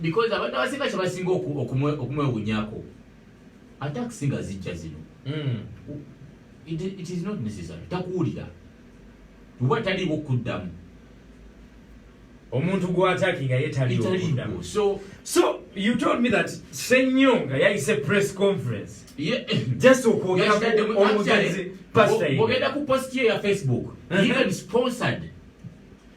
because abantu abasinga kyebasinga okumwewunyako atakisi nga zijja zino hmm. it, it is not necessary takuwulira oba taliwo okuddamu omuntu gwataki nga yetaliwo so so you told me that senyonga yayise press conference yeah. just okwogera omugenzi pastor bogenda ku post ye ya facebook uh-huh. even sponsored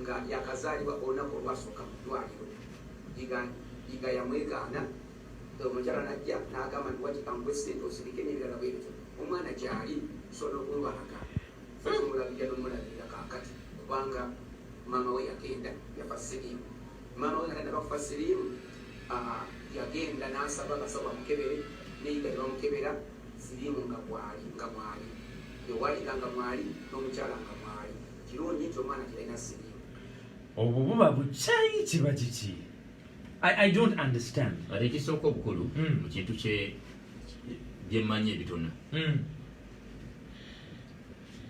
nga yakazaalibwa olunaku olwasooka mu ddwaliro iga yamwegaana omukyala najja n'agamba nti wati kankuwe ssente osirike n'ebirala bwe bityo omwana gyali sobola okunwalaga fetulabirira nomulabirira kakati kubanga maama we yagenda yafa siriimu maama we nagenda bakufa siriimu ah, yagenda n'asaba abasawo bamukebere neyiga ne bamukebera siriimu nga mwali nga mwali ewalika nga mwali n'omukyala nga mwali kirungi nti omwana kirina sirimu obwo buba bukyayi kiba kiki i don't understand ate ekisooka obukulu hmm. mu kintu byemmanyi ebitona hmm.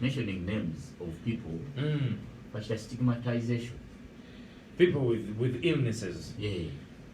mentioning names of people hmm. bakita stigmatization people with, with illnesses yeah.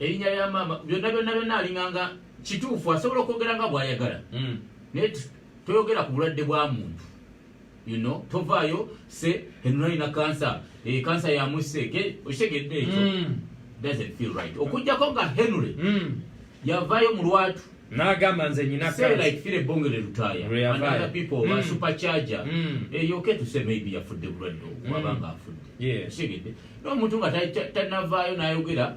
erinya lya maama byonna byonna byonna alinganga kituufu asobola okwogera nga bwayagala mm. naye toyogera ku bulwadde bwa muntu you know tovaayo se enonalina kansa kansa eh, yamusse okitegedde ekyo mm. doesn't feel right okujjako nga henry mm. yavaayo mu lwatu nagamba nze nyinayafudde bulwadde wabanga afudde n'omuntu nga tanavaayo n'ayogera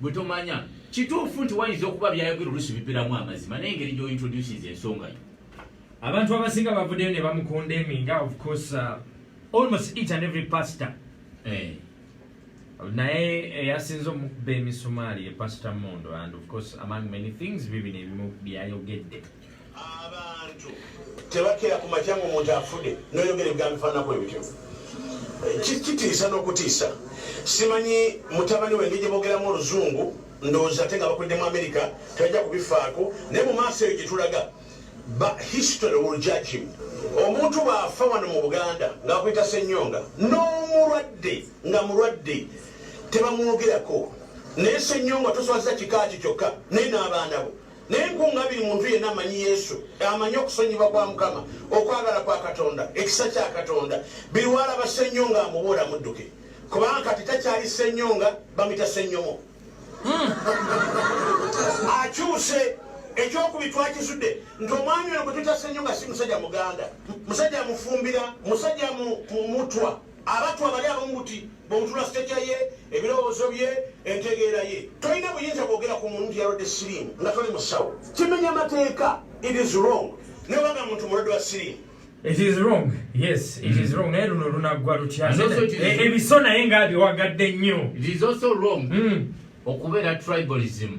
bwe tomanya kituufu nti wayinza okuba byayogera olusi bipiramu amazima naye engeri gy'ointroducinze ensonga yo abantu abasinga bavuddeyo ne bamukunda eminga of course uh, almost each and every pastor eh. naye eyasinza eh, omukuba emisumaali ye pastor mondo and of course among many things bibino ebimu byayogedde abantu tebakira ku makya nga omuntu afude noyogera ebigambo bifaananako ebityo kitiisa n'okutiisa simanyi mutabani wenge gye boogeramu oluzungu ndowooza ate nga bakulidde mu amerika tebajja kubifaako naye mu maaso eyo gye tulaga ba history will judge him omuntu bw'afa wano mu buganda ng'akuyita senyonga n'omulwadde nga mulwadde tebamwogerako naye senyonga toswaza kika kye kyokka naye n'abaana bo naye nkunga biri muntu yenna amanyi yesu amanyi okusonyiba kwa mukama okwagala kwa katonda ekisa kya katonda biriwalaba senyonga amubuula mudduke kubanga kati takyali senyonga bamita senyomo hmm. akyuse ekyokubiri twakizudde nti omwami ono gwe tutasenyo nga si musajja muganda musajja mufumbira musajja mutwa Abattu abali abamu buti bw'omutula siteja ye, ebirowoozo bye, entegeera ye. Tolina buyinza bwogera ku muntu nti yalwadde siriimu nga toli musawo. Kimenya mateeka. It is wrong. Nebanga muntu mulwadde wa siriimu. It is wrong. Yes, it is mm. wrong. Naye luno lunaggwa lutya? Ebiso eh, naye nga abiwagadde nnyo. It is also wrong. Mm. Okubeera tribalism.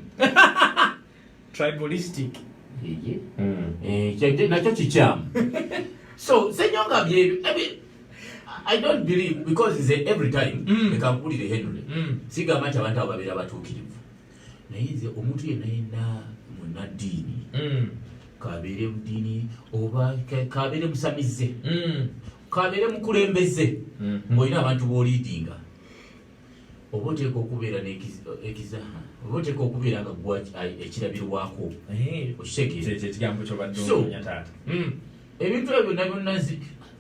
tribalistic eye mm. eh kyade nacho chicham so senyo nga bye i mean i don't believe because is every time mm. they can put it ahead only mm. siga mata abantu ababira batukirivu naye nze omuntu yenna yenna munaddiini mm. kabeere mudiini oba kabeere musamize mm. kabeere mukulembeze mm. ngaolina abantu boliidinga oba oteeka okubeera ekizaha oba oteeka okubeera nga gwa ekirabirwako okitegeerataata hmm. ebintu ebyo byonna byonna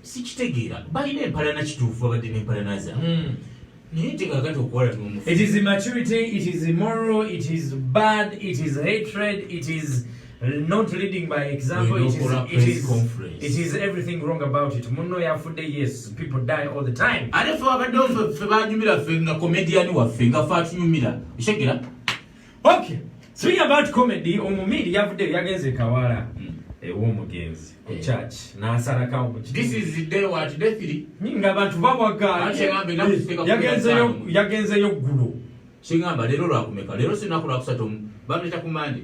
sikitegeera balina empalana kituufu babadde n'empalana zaabwe hmm. naye tekakati okuwala nomufu it is immaturity it is immoral it is bad it is hatred it is not leading by example it is, it, is, it is everything wrong about it munno yafudde yes people die all the time ate fe wabadde ofe fe banyumira fe nga comedian waffe nga fe atunyumira oshegera okay swing about comedy omumiri yavudde yagenze e kawala hmm. ew'omugenzi ku eh. church n'asalakawo ku ngaabantu bawagaayagenzeyo ggulu kingamba leero lwakumeka leero sinaku lwakusatu bameta ku mande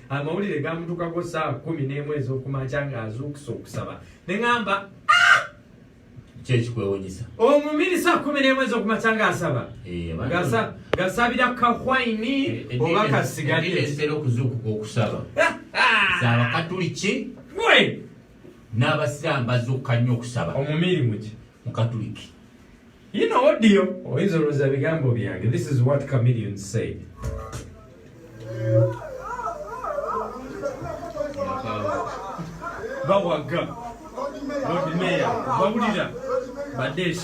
amawulire gamutukako saawa kumi n'emu ez'okumakya ng'azuukusa okusaba ne ŋamba ah! kyekikwewunyisa omumiri saa kumi n'emu ez'okumakya ng'asaba eh, gasabira kahwaini eh, eh, oba kasigalieera okuzuukuka okusaba ah, ah! zaabakatuliki we n'abasiraamu bazuukuka nnyo okusaba omumiri muki mukatuliki You know what deal? Oyinza olowooza bigambo byange. This is what Chameleon said. Bawaga. Lord Mayor. Bawulira. Badesh.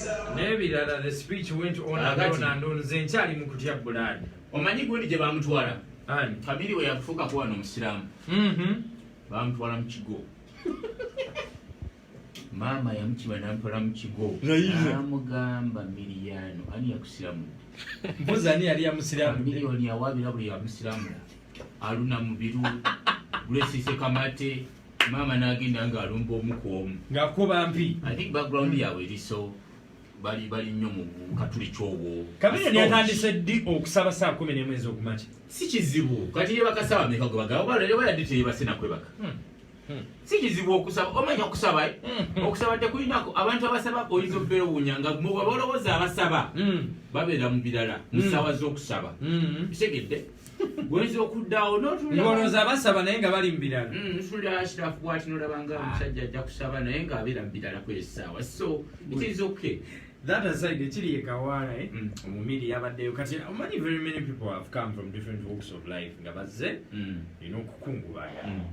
n'ebirala the speech went on and on and on nze nkyali mu kutya bulaadi omanyi gundi gye bamutwala famiri we yafuuka kuba no omusiraamu mm-hmm. bamutwala mu kigo maama yamukiba namutwala mu kigo amugamba miriyano ani yakusiramudde mbuzi ani yali yamusiramumiriyoni yawabira buli yamusiramu aluna mubiru gulesise kamate maama nagenda nga alumba omu ku omu ngakuba mpi i think background yabwe eriso bali bali nnyo mu katuli kyowo kabira lyatandise ddi okusaba saa kumi nemu ezokumakya si kizibu kati yebakasaba meka gwe bagaba balere bayadde teyebase nakwebaka hmm. hmm. si kizibu okusaba omanya okusaba eh? hmm. okusaba tekulinako abantu abasaba oyinza okubeera owunya nga mubaba olowooza abasaba babeera mu birala mu ssaawa z'okusaba kitegedde Gwenzo kudawo no tulya. Ngono za basaba naye nga bali mbirala. Mm, nsuli ashira fuwa tino labanga ah. mshaja ja kusaba naye nga abira mbirala kwe sawa. So, it is okay. That aside, chili ye kawara eh. Mm. Omumili yabade yo kati. Many very many people have come from different walks of life. Nga baze, mm. you know, kukungu baya. Mm.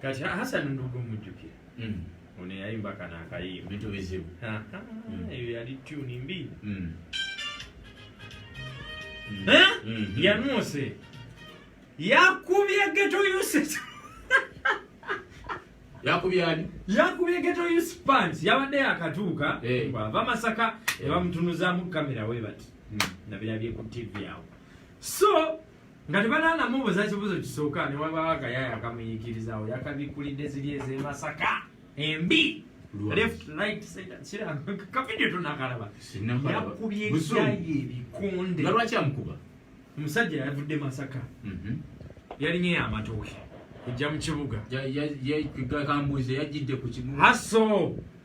kati hasani ndugu mujjukira mm. ono yayimba kana akayimba bintu bizibu mm. eyo yali tuni mbi mm. mm-hmm. yanuuse yakubye geto uses yakubye ani yakubye geto use pants yabadde yakatuuka eh. bwava masaka ebamutunuzamu kamera webati nabirabye ku tv awo so nga tebanaana mubuza kibuzo kisooka ne wabaawo akayaayo akamuyiikirizawo yakabikkulidde ziri ez'emasaka embi kavidiyo tonakalaba yakubye ekyayi ebikonde nga lwaki amukuba omusajja yavudde masaka mhm. yalinye yamatooke ejja mu kibuga kambuuze yajjidde ku kibuga haso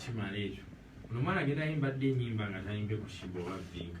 kimala ekyo onomwana agenda ayimba dde enyimba nga tayimbye ku shiba oba vinga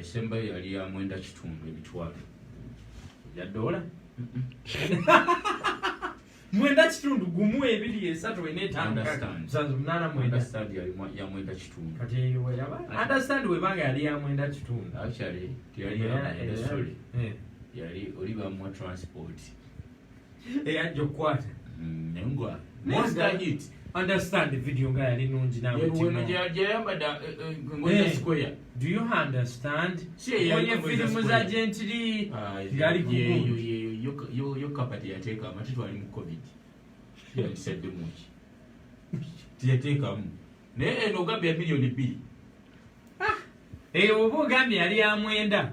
esembayo yali ya mwenda kitundu emitwalo ya dola mwenda kitundu gumu ebiri esatu ena etanunana mwenda ya mwenda kitundu understand webanga yali ya mwenda kitundu actually teyali yali eh. yali oli bamuwa transport eyajja okukwata nengwa most i need understand the video nga yali nungi nawewenagyayambadde do you understand oye filimu za gentiri ngali kuyo kapati yateeka amati twali mu covid yatisadde muki tiyateekamu naye eno ogambye ya miliyoni bbiri eyo oba ogambye yali ya mwenda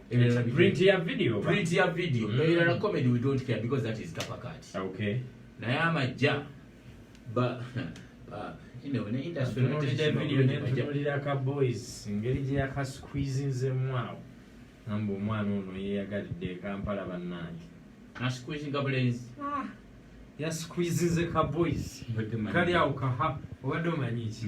ebirala print ya video print ya video mm. ebirala comedy we don't care because that is kapakat okay naye amajja ba tunulira ka boys engeri gyeyakasqueezinzemwawo amba omwana ono yeyagalidde ekampala bannange yasqueezinze ka boys kali awo kaha obadde omanyi ki